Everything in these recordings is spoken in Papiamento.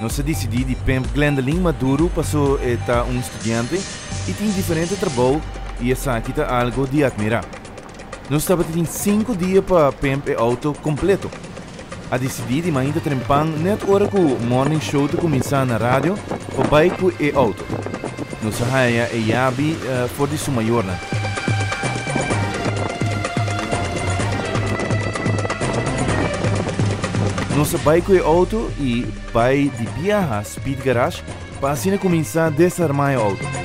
Nos a disidí di pimp Glendelyn Maduro paso e ta un studiante i tin diferente trabou i esaki ta algo di atmirá. Nos tabata tin sinku dia pa pimp e outo kompleto. A disidí di mainta trempan nèt ora ku Morning Show ta kuminsá na radio pa bai ku e outo. Nos a haña e yabi for di su mayornan. Nos a bai ku e outo i bai di biaha Speed Garage pa asina kuminsá desarmá e outo.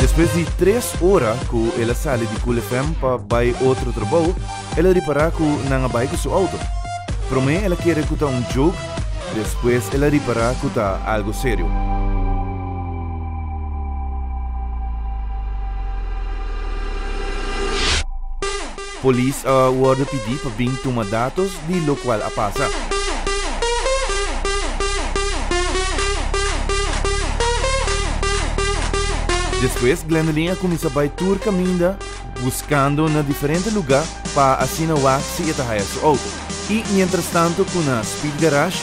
Despues di tres ora ku el a sali di Cool FM pa bai otro trabou, el a ripará ku nan a bai ku su outo. Promé el a kere ku ta un joke, despues el a ripará ku ta algu serio. Polis a worde pidi pa bin tuma datos di lokual a pasa. Despues Glendelin a kuminsa bai tur kaminda buskando na diferente luga pa asina wak si e ta haya su outo. I mientrastantu ku na Speed Garage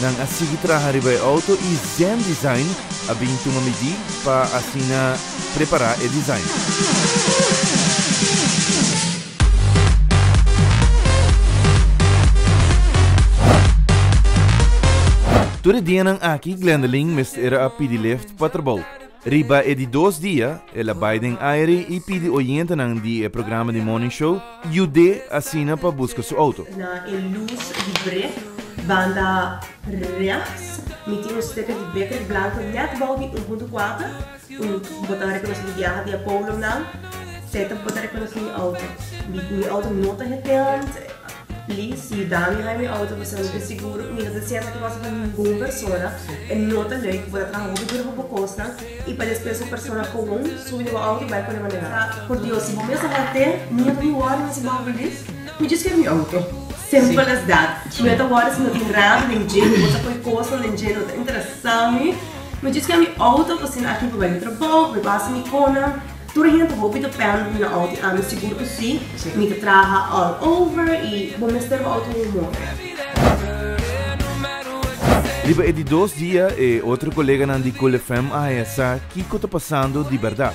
nan a sigui traha riba e outo i Zen Design a bin tuma midí pa asina. prepara e design. Tur e dianan aki Glenderlin mester a pidi lift pa trabou. Riba e di dos dia, el a bai den aere i pidi oyentenan di e programa di Morning Show yud'é asina pa buska su outo. Na e lus di brek, banda rechts, mi tin un steker di beker blanko nèt bou di un punto kuater. Si bo ta rekonosí di biaha di e polo nan, sèt bo ta rekonosí mi outo. Mi outo no ta heteant. Li, si yu dami haña mi outo pasobra mi ta siguro mi no ta hasié esaki kosnan pa ningun persona. E no ta lei. Bo ta traha hopi duru pa bo kosnan i pa despues un persona komun subi na bo outo i bai pone manera nan. Por Dios, si bo mes a haté, mi no ta bin wòrdu na su bou bilis. Mi djis ker mi outo. Simple as that. Mi no ta wòrdu si no tin rami den dje, si bo ta poi kosnan den dje, no ta interesa mi. Mi djis ka mi auto pasin aki mi bai di trabou mi pasa mi kona tur hende hopi ta pende mi na auto i ami sigur ku si mi ta traha all over i bo mester bo auto un moto. Riba e di dos dia e otro koleganan di Cool FM a haña sa kiko ta pasando di bèrdat.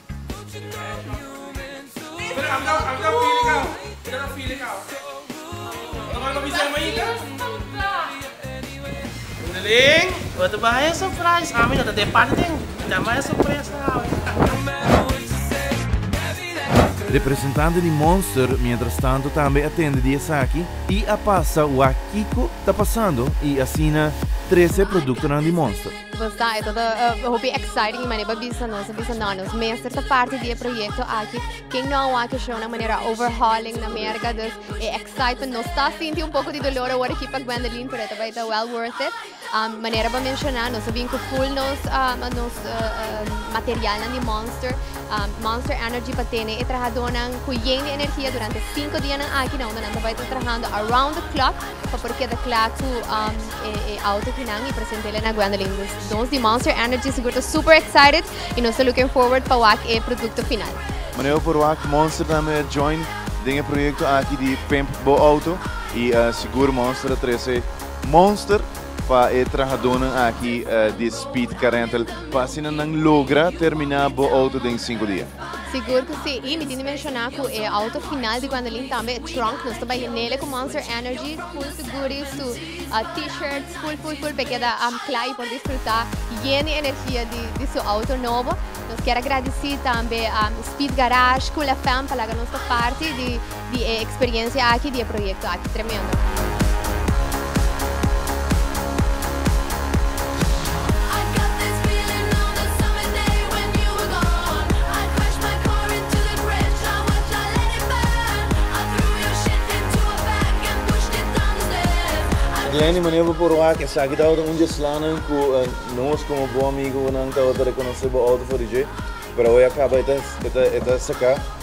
Representante di Monster mientrastanto tambe a tende di esaki y a pasa wak kico ta pasando y asina trece productonan di Monster. Pues ta, e ta hopi exciting manera pa bisa nos, a bisa no, nos mester ta parti di e proyecto aki, ken no a wak e show na manera overhauling na Merca, dus e excitement, nos ta sinti un poco di dolor awor aki pa Gwendoline, pero e ta bay ta well worth it. Um, manera bo a menciona, nos a bin cu full nos, um, nos uh, uh, materialnan di Monster, um, Monster Energy pa tene e trahadornan cu yen di energia durante cinco dianan aki, na unda nan ta bay ta trahando around the clock, Pa por keda kla ku e auto ki nan i presente la na Gwendoline. Dus nos di Monster Energy sigur ta super excited i nos ta looking forward pa wak e produkto final. Manera por wak Monster tambe a join den e proyekto aki di Pimp Bo Auto i sigur Monster a trese Monster pa e trahadónan aki di Speed Car Rental pa asina nan logra terminá bo auto den sinku dia. Sigur cu si, y mi tin di menciona cu e auto final di Gwendolyn tambe e trunk, nos ta bay nele cu Monster Energy, full su goodies, su T-shirts, full full full pa e keda cla y por disfruta yen di energia di su auto nobo. Nos kier a gradici tambe Speed Garage, Cool FM pa laga nos ta parti di. di e experiencia aki, di e proyecto aki tremendo. Glenny, mane bo por wak? Esaki tabata un dje slanan ku nos komo bo amigonan tabata rekonosé bo outo for di dje, pero awe a kaba e ta saka.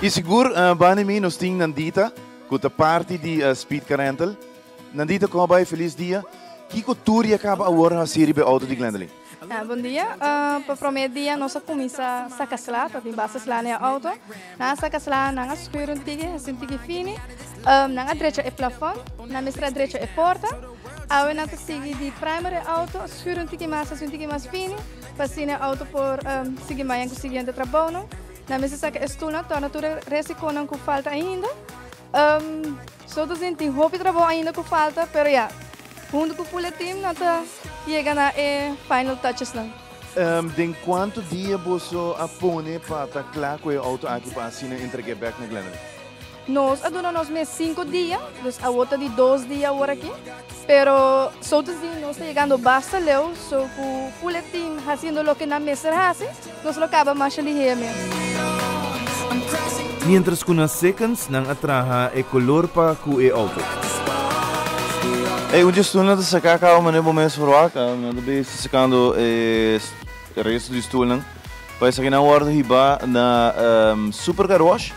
I sigur Bani mi nos tin Nandita cu ta parti di Speed Car Rental. Nandita como bai? Feliz dia. Kico tur ya caba awor haci riba e auto di Glendaline? Bon dia. Pa prome dia nos a cuminsa saca sla, ta tin basta sla na e auto. Nan a saca sla, nan a scuir un tiki, haci un tiki fini. Nan a drecha e plafon, nan mester a drecha e porta. Awe nan ta sigui di primer e auto, scuir un tiki mas, haci un tiki mas fini, pa asina e auto por sigui maña cu siguiente trabao nan. Nan mester saka e stulnan torna tur e resiconan cu falta ainda. Um, so ta sin tin hopi trabou ainda cu falta, pero ya, hunto cu Pule Team nan ta yega na e final touchesnan. Um, den cuanto dia boso a pone pa ta cla cu e auto aki pa asina entreg'e bek na Glenelg? Nos a duna nos mes sinku dia, dus awor ta di dos dia awor aki, pero so te si nos ta yegando basta leu so ku ful e team hasiendo loke nan mester hasi, nos lo kaba masha lihé mes. Mientras ku na seconds nan a traha e kolor pa ku e outfit. Ey un dje stoelnan ta saka kaba manera bo mes verwaka, nan ta bes ta sakando e resto di stoelnan, pa esaki nan awor ta hiba na Super Car Wash.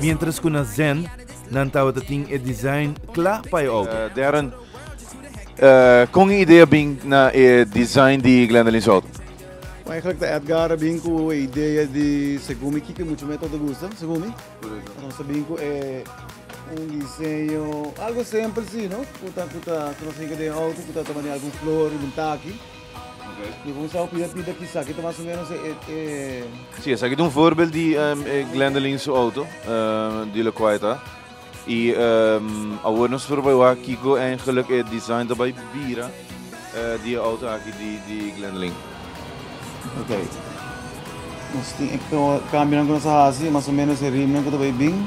Mientras cu na Zen nan tabata tin e design cla pa e auto. Darren, con e idea bin na e design di Glendalin's auto? Eigenlijk ta Edgar a bin cu e idea di segun mi kiki mucho me ta gusta, segun mi. Nos a bin cu e un diseño algo simpel si no, cu ta cu ta cu nos a yega den e auto cu ta ta mandi algun flor riba un taki. Mi bon sa opina di dat kisa, kit mas o menos e... e... Si, esaki ta un voorbeeld di um, e Glendelin su auto, uh, di lo kua eta. I um, awor nos por bai wa kiko en geluk e design ta bai bira uh, di auto aki di, di Glendelin. Ok. Nos tin ek cambio nan ku nos hasi, mas o menos e rim nan ku ta bai bin.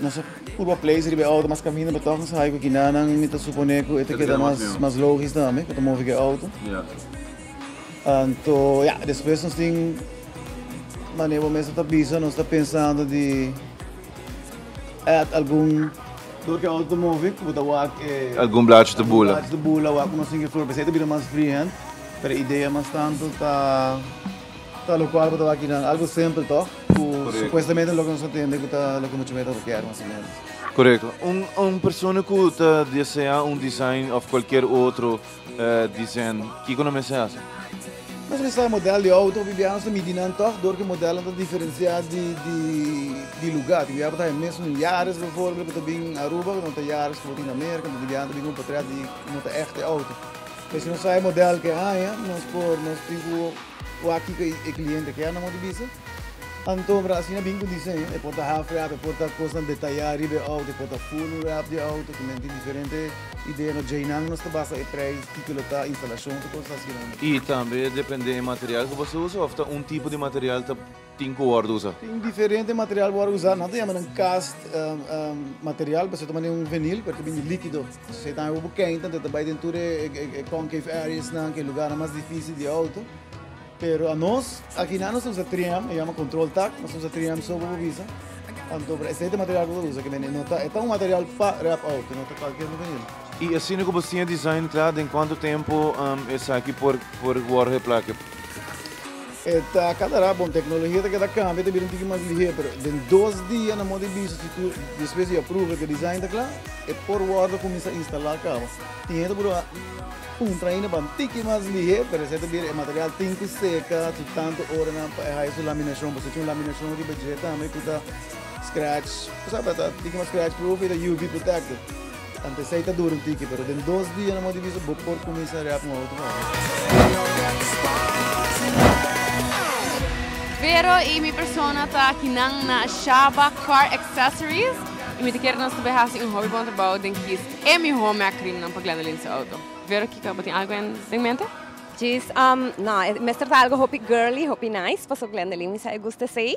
Nos a purba place riba e auto mas caminda pero toch nos a ha'i cu kinanan mi ta supone cu e ta keda mas logisch tambe cu ta movi cu e auto. Anto ya, despues nos tin, mane bo mester ta bisa, nos ta pensando di add algun, dor cu e auto ta movi, cu bo ta wak e, Algun blachi ta bula. blachi ta bula, wak cu nos tin ki flor, p'esei ta bira mas freehand, pero idea mas tanto ta. Ta lo cual cu ta wak nan algo simple toch? Cu supuestamente loke nos a tende cu ta loke mucho meda ta kier mas o menos. Correcto. Un, un persona cu ta desea un design of cualkier otro eh, desen, kico nan mester haci? Nos mester model di auto, bibia nos ta midi nan toch dor ki modelnan ta diferencia di, di, di lugar. Tin bibia cu ta haña mes un Yaris bijvoorbeeld cu ta bin Aruba, cu no ta Yaris cu bo tin na Merca, tin bibia cu ta bin un potret di cu no ta echte auto. Pues nos a e model ke haña, nos por nos tin ku wak kiko e kliente kier nan mos bisa. Anto mira asina bin ku disen, e por ta half wrap, e por ta kosnan detayá riba e outo, e por ta full wrap di outo. Kimen tin diferente idea no djeinan nos ta basa e preis kiko lo ta, instalashon, tur kos asina. I tambe depende e material ku bo ta usa of ta un tipo di material ta. Tin cu worde usa. Tin diferente material worde usa. Nan ta yama nan cast material pasobra ta manda un venil pero ta bini likido. Esey ta haña bo kent anto e ta bai den tur e concave areas nan ku e lugarnan mas dificil di auto. Pero anos akinan nos ta usa three M e yama control tack. Nos ta usa three M so bo por bisa. Anto por esey ta material cu bo ta usa aki bini. No ta e ta un material pa rap auto no ta cualkier un venil. Y asina cu bo siña design cla den cuanto tempo esaki por worde plake. E ta kada ra bon, teknologia ta keda kambia, ta bira un tiki mas lihé, pero den dos dia nan mos di bisto si tur, despues di apruba ku e design ta kla, e por wòrdu kuminsá instalá kaba. Tin hende ku por a puntra ainda pa un tiki mas lihé, pero esei ta bira e material tin ku seka su tantu oranan pa e haya su laminashon, pasobra tin un laminashon riba dje tambe ku ta scratch, bo sabe, ta tiki mas scratch proof i ta UV protected. Ante esei ta dura un tiki, pero den dos dia na Modo di Bisa bo por kuminsá rèp un outro bòs. Vero i mi persona ta kinan na Shaba Car Accessories i mi ta kere nos probe hasi un hopi bon trabou den kis e mihó mèrk rimnan pa Glendoline su outo. Vero Kiko, bo tin algu den mente? Djis, Nò, mester ta algu hopi girly, hopi nice, pasobra Glendoline mi sa e gusta esei.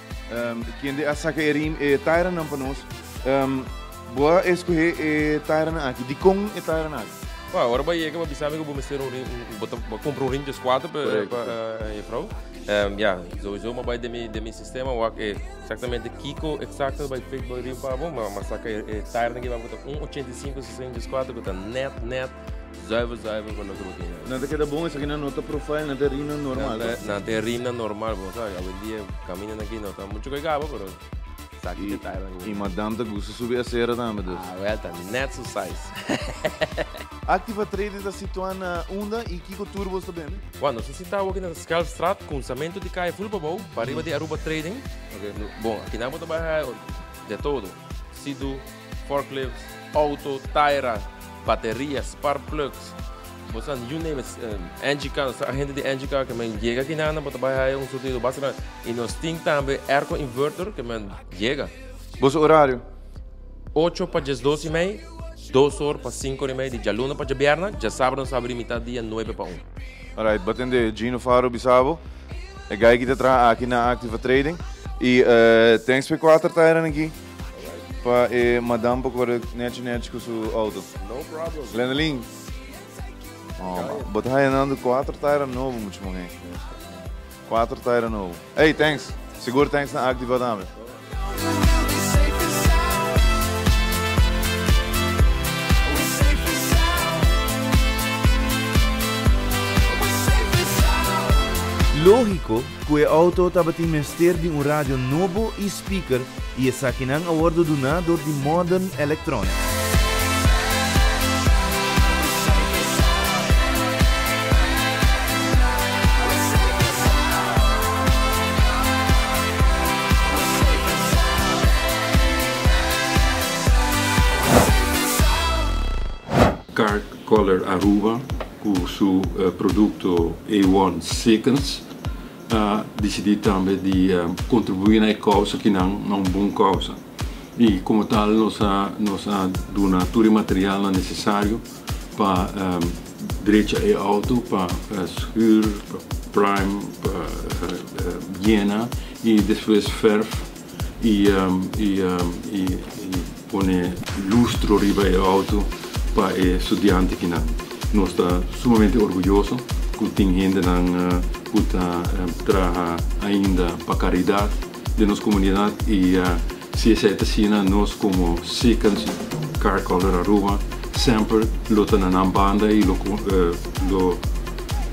Kende a saka e rim e tairanan pa nos? Bo a eskohe e tairanan aki. Dikon e tairanan aki? Bo ora bo a yega bo a bisa mi ku bo mester un rim, bo ta kumpra un rim di skuater pa e frou? Ya, souso bo a bai den mi sistema wak e eksaktamente kiko eksakto bai fit bo e rim pa bo. Bo a saka e tairanan aki ku ta un ochenta i sinku, sesenta di skuater ku ta nèt nèt. Zuiver, zuiver pa loke bo tin nou. Nan ta keda bon, esaki nan no ta profile, nan ta rina normal. Nan ta, nan ta rina normal, bo sabe, awendia camina nan aki no ta mucho kai gaba, pero saki te tailan ku. I madam ta gusta subi acera tambe dus. Ah, well, ta net su size. Active a trede ta situa na unda i kiko tur bo sta bende? Well, nos ta sita awor aki na Schelpstraat, cruzamento di calle full pabou, pariba di Aruba Trading. Okay. Bon, akinan bo ta baha de todo, sido. Forklifts, auto, taira, bateria, spark plugs, bo sa you name it, engi car, sa hende di engi car ke men yega aki nan bo ta bai haya un surtido base nan y nos tin tambe airco inverter ke men yega. Boso horario? Ocho pa dies dos y mei, dos or pa cinco or y mei di djaluna pa djabierna, djasabra nos abri mitad dia nuebe pa un. Alright, bo tende Gino Faro bisa bo e guy aki ta traha aki na Activa Trading y thanks pa e kuater tairanan aki. Pa e madam por corre nechi nechi cu su auto. No problem. Lenelin. Oh, ma. Bo ta haya nando cuatro tire novo mucho man hey. Cuatro tire novo. Hey, thanks. Sigur thanks na Activa tambe. Logico Ku e outo tabatin mester di un radio nobo i spikèr i esakinan a wòrdu duná dor di Modern Electronics. Card Color Aruba cu su producto A-One Seconds a dicidi tambe di contribui na e causa ki nan na un bon causa y como tal nos a duna tur e materialnan necesario pa drecha e auto, pa schuur, pa prime, pa yena y despues verf. i pone lustro riba e auto pa e studiante kinan. Nos ta sumamente orguyoso ku tin hendenan ku ta traha ainda pa karidat den nos komunidat i si esei ta asina nos komo Seekens Car Color Aruba semper lo ta na nan banda i lo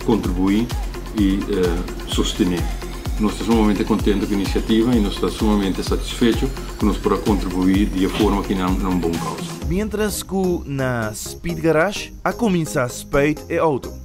kontribuí i sostené. Nos ta sumamente contento cu e iniciativa y nos ta sumamente satisfecho cu nos por a contribui di e forma ki nan na un bon causa. Mientras cu na Speed Garage a cuminsa spuit e auto.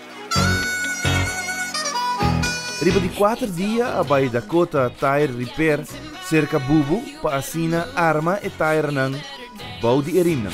Riba di kuater dia a bai Dakota Tire Repair serka Bubu pa asina arma e tirenan bou di e rimnan.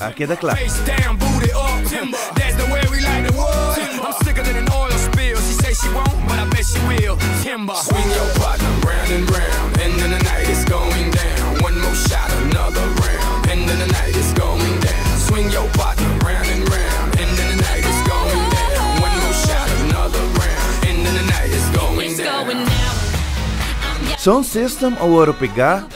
a keda kla. Sound system awor a pega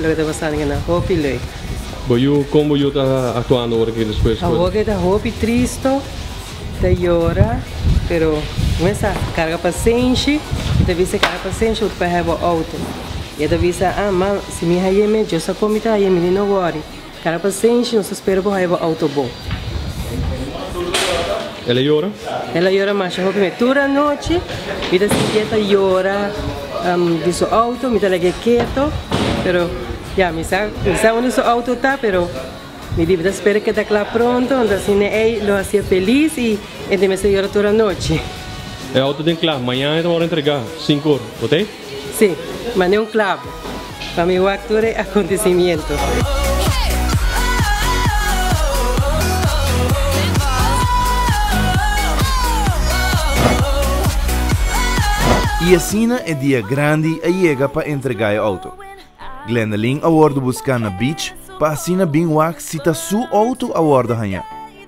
Lo ke ta pasando ke nan hopi lei. Bo yu kon bo yu ta aktuando ora ke despues por. Awor ke ta hopi tristo, ta yora, pero mesa karga pasenshi, e ta bisa karga pasenshi ora pa heba outo. E ta bisa ah ma si mi haye me Dios a con mi ta haye mi mi no wori. Kara pasenshi, nos ta spera bo haya bo auto bo. El a yora? El a yora masha hopi me. Tur anochi mi ta sintié ta yora di su auto, mi ta lag'é keto, pero ya mi sa, mi sa unda su auto ta, pero mi dibi ta spera keda kla pronto, anto asin ne'ey lo hacia felis y e ta mester yora tur anochi. E auto den kla, mañana e ta por entregá, sinku ora, bo ta ei? Sí, ma ni un clavo. Pa mi wak tur e acontecimiento. I asina e dia grandi a yega pa entrega e auto. Glendaleen a wordo busca na beach pa asina bin wak si ta su auto a wordo haña.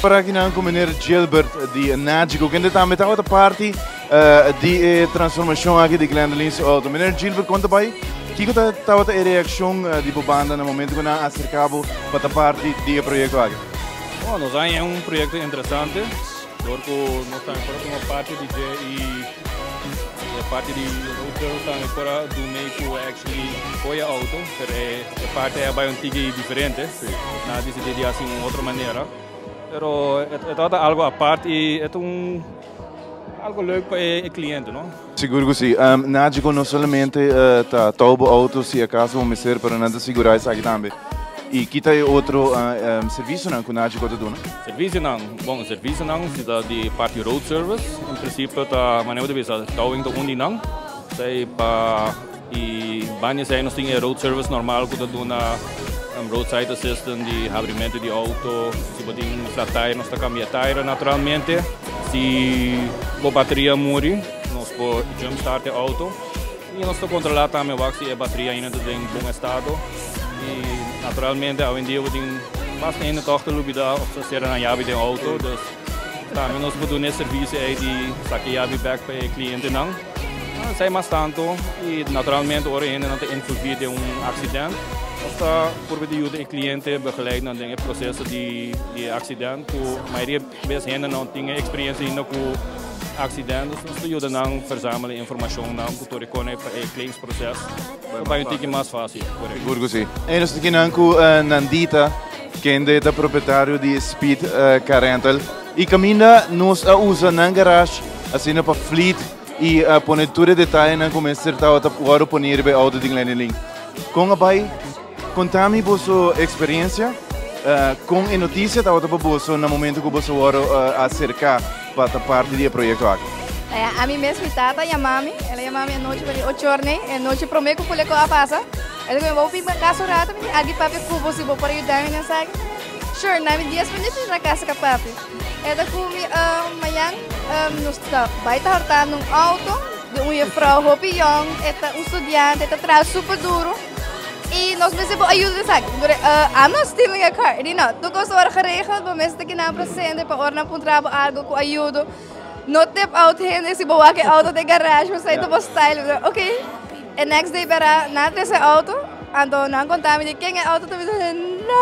Parakinan ku Meneer Gilbert di Nagico, kende tambe tabata parti di e transformashon aki di Glendoline su outo. Meneer Gilbert, konta bai kiko ta tabata e reakshon di bo banda na momentu ku nan aserká bo pa ta parti di e proyekto aki? Nos a haña un proyekto interesante. Dor cu nos tambe por a tuma parti di dje y e parti di road girls tambe por a do mee cu actually coy e auto, pero e e parti ey a bay un tiki diferente. Nan a decidi di haci un otro manera, pero e e trata algo apart y e ta un algo leuk pa e e cliente, no. Sigur cu si. Nagico no solamente ta touw bo auto si acaso bo mester, pero nan ta sigura esaki tambe. Y kita e otro servicionan cu Nagico ta duna? Servicionan, bon, servicionan si ta di parti road service, en principio ta manera bo ta bisa, towing ta un di nan, ta e pa. Y baña esei nos tin e road service normal cu ta duna roadside assistance di habrimento di auto. Si bo tin flat tire nos ta cambia e tire naturalmente. Si bo bateria a muri nos por jump start e auto y nos ta controla tambe wak si e bateria aina ta den bon estado. Y naturalmente awendia bo tin basta hende tog ta lubida of ta cera nan yabi den auto. Dus tambe nos por duna e servicio ei di saca e yabi bek pa e clientenan. Esei mas tantu i naturalmente ora e hendenan ta envolvi den un aksident nos ta purba di yuda e kliente begeleidnan den e proseso di e aksident ku mayoria bes hende no tin e eksperensia ainda ku aksident. Nos ta yuda nan verzamel e informashonnan ku tur e kone pa e claims proses. Lo bai un tiki mas fácil. Sigur ku si. Ey nos ta aki nan ku Nandita kende ta propietario di Speed Car Rental i kaminda nos a usa nan garash asina pa fleet i pone tur e detayenan ku mester tawa ta wòrdu pone riba e outo di Glennilyn. Kon a bai? Konta mi boso eksperensia. Kon e notisia tabata pa boso na momentu ku boso wòrdu aserká? Pa ta parti di e proyekto aki. Ami mes mi tata a yama mi, el a yama mi anochi pa di ocho orne, e nochi prome ku Kuleko a pasa, el a biba mi, bo bin pa kas un rato, mi di aki papi ku bo si bo por yuda mi den esaki. Sure, na mi dies minuto mi yura kas ka papi. El ta ku mi, Mayan, nos ta bai ta hortando un outo di un yefrou hopi yòn, e ta un studiante, e ta traha super duru. I nos mester por ayuda den esaki. Por eh, Anna stealing a car. Di no, tu cos ora geregeld, bo mester taki nan presente pa ora nan pun trabo algo cu ayudo. No tip out hende si bo wak e auto den garage, bo sai ta bo style. Bo, Ok. E next day bera, nan tres e auto. Anto nan conta mi di ken e auto ta mi di, no,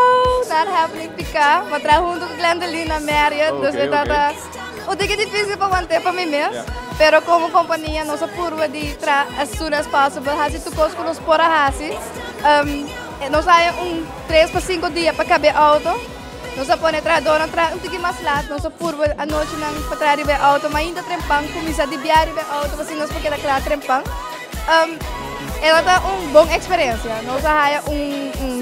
not happening, pica. Bo traha hunto cu Glendaline na Marriott, dus e Okay, tata. okay. Bo tin ke difísil pa want'é pa mi mes, pero komo kompania nos a purba di tra as soon as possible hasi tur kos ku nos por a hasi. Nos a haña un tres pa sinku dia pa kab'é outo, nos a pone trahadónan traha un tiki mas lat, nos a purba anochinan pa traha riba e outo mainta trempan, kuminsá di bia riba e outo pasobra nos por keda kla trempan. E lo ta un bon eksperensia, nos a haña un un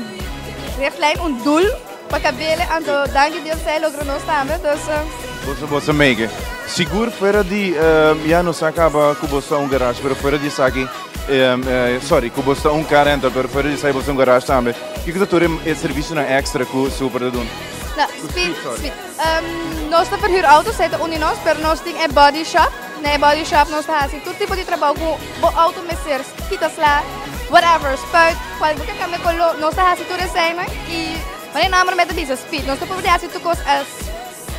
richtlijnrichtlijn, un doel. Pa kabele anto danki Dios ta e logro nos tambe dus. Boso boso mege. Sigur fuera di um, ya nos acaba cu bosta un garage, pero fuera di esaki, um, uh, sorry, cu bosta un car rental, pero fuera di esaki bosta un garage tambe. Kiko ta tur e servicio na extra cu super te doen? Na, speed, speed. Um, nos ta verhuur auto's, hij ta unie nos, pero nos tin e body shop. Na e body shop nos ta hasi tur tipo di trabao cu Bo auto mester kita sla, whatever, spuit, cual bo ke cambia color, nos ta haci tur esey nan y mane nan prome ta bisa speed, nos ta purba di haci tur cos as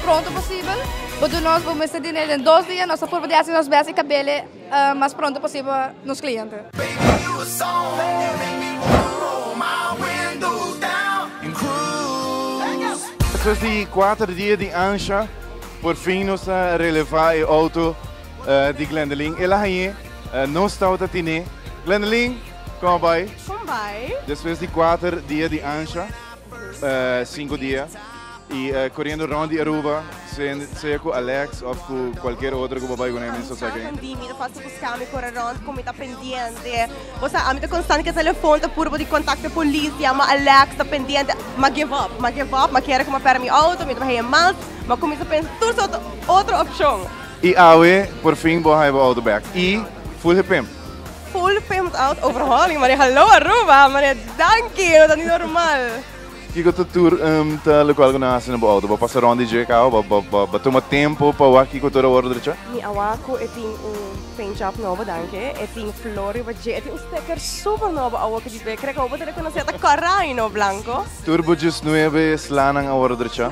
pronto posibel, bo do nos bo mester diner den dos dia, nos ta purba di haci nos best y cabele mas pronto posibel pa nos cliente. Despues di cuater dia di ancha, por fin nos a releva e auto. eh, di Glendeline. Ela hañé eh, nos tau ta tiné. Glendeline, kom bai. Kom bai. Después di cuatro dia di Ansha, eh, cinco dia, y eh, corriendo rond di Aruba, sea, sea cu Alex of cu cualquier otro cu babai con hem, so sa Kan di mi ta fácil buscar mi corre rond con mi ta pendiente. O sea, a mi ta constante que telefoon ta puro de contacto policía, ma Alex ta pendiente. Ma give up, ma give up, ma quiere como para mi auto, mi trabaja en mals, ma comienza a pensar todo soort otro opción. I awe por fin bo hai bo auto back i full gepimpt. Full gepimpt out overhauling mane hallo Aruba mane danki no ta ni normal. Kiko ta tur ta lokual ku nan hasi na bo auto? Bo pasa rond di dje kau? Bo tuma tempu pa wak kiko tur a wòrdu drecha? Mi a wak ku e tin un paint job nobo danki e tin flor riba dje e tin un steker super nobo awo ku dipia krek awo bo ta rekonosé ta kòrá i no blanko. Tur bo djes nuebe slanan a wòrdu drecha?